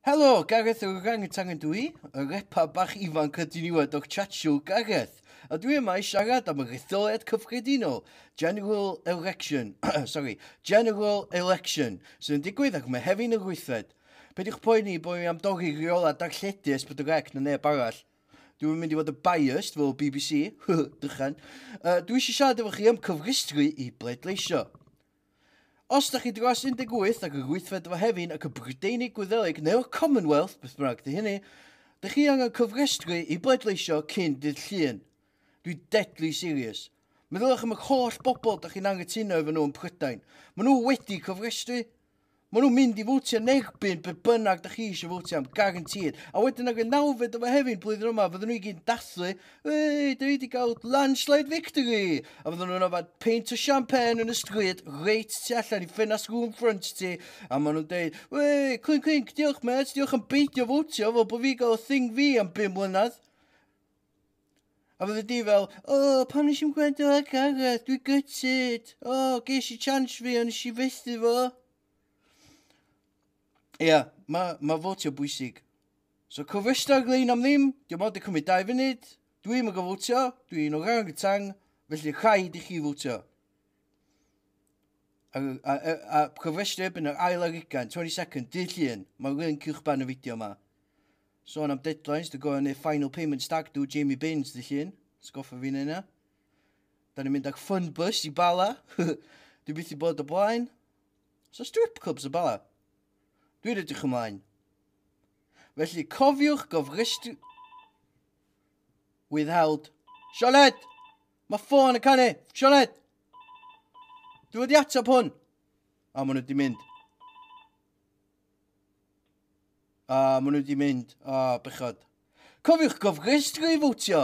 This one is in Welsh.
Helo, Gareth yr Orangutan ydw i, y repa bach ifanc y diniwed o'r Churchill Gareth, a dwi yma i siarad am yr etholiad cyffredinol, General Election, sorry, General Election, sydd yn digwydd ar Mehefin yr wythfed. Peidiwch poeni bod fi am dorri rheola darlledu Esbydorec na neb arall. Dwi'n mynd i fod yn biased fel BBC, dychan. Uh, dwi eisiau siarad efo chi am cyfrestru i bleidleisio. Os da chi dros 18 ac yn gweithred efo Hefin ac y Brydeinig Gwyddelig neu'r Commonwealth, beth bynnag di hynny, dych chi angen cyfrestru i bleidleisio cyn dydd Llun. Dwi deadly serious. Meddyliwch am yr holl bobl da chi'n anghytuno efo nhw yn Prydain. Maen nhw wedi cyfrestru. Maen nhw'n mynd i fwtio yn egbyn be bynnag da chi eisiau fwtio am, garantid. A wedyn ag y nawfed o fehefin blwyddyn yma, fydden nhw i gyd yn dathlu, Wei, da ni wedi cael landslide victory! A fydden nhw'n yfad peint o champagne yn y stryd, reit tu allan i ffenast rŵm ffrynt ti, a maen nhw'n deud, Wei, clink clink, diolch met, diolch am beidio fwtio, fel bod fi gael y thing fi am bum mlynedd. A fyddi di fel, o, oh, pam nes i'n gwrando ar Gareth, dwi gytid. O, oh, ges i chance fi, ond nes i fethu fo. Ia, yeah, mae ma fotio bwysig. So, cofrestio'r lein am ddim, diolch ond i cymryd dau funud. Dwi'n mynd gofotio, dwi'n o rhan y tang, felly rhaid i chi fotio. A, a, a, a cofrestio erbyn yr ail ar ugain, 20 second, dydd llun. Mae'r link i'ch ban y fideo yma. Sôn am deadlines, dwi'n gofio wneud final payment stag do Jamie Baines ddydd llun. Sgoffa fi'n yna. Da ni'n mynd ag fun bus i Bala. Dwi byth i bod o blaen. So strip clubs y Bala. Dwi'n edrych ymlaen. Felly cofiwch gofrestru... Withheld. Sioned! Mae ffôn yn canu! Sioned! Dwi'n wedi ateb hwn! A maen nhw wedi mynd. A, ah, maen nhw wedi mynd. A, ah, bechod. Cofiwch gofrestru i fotio!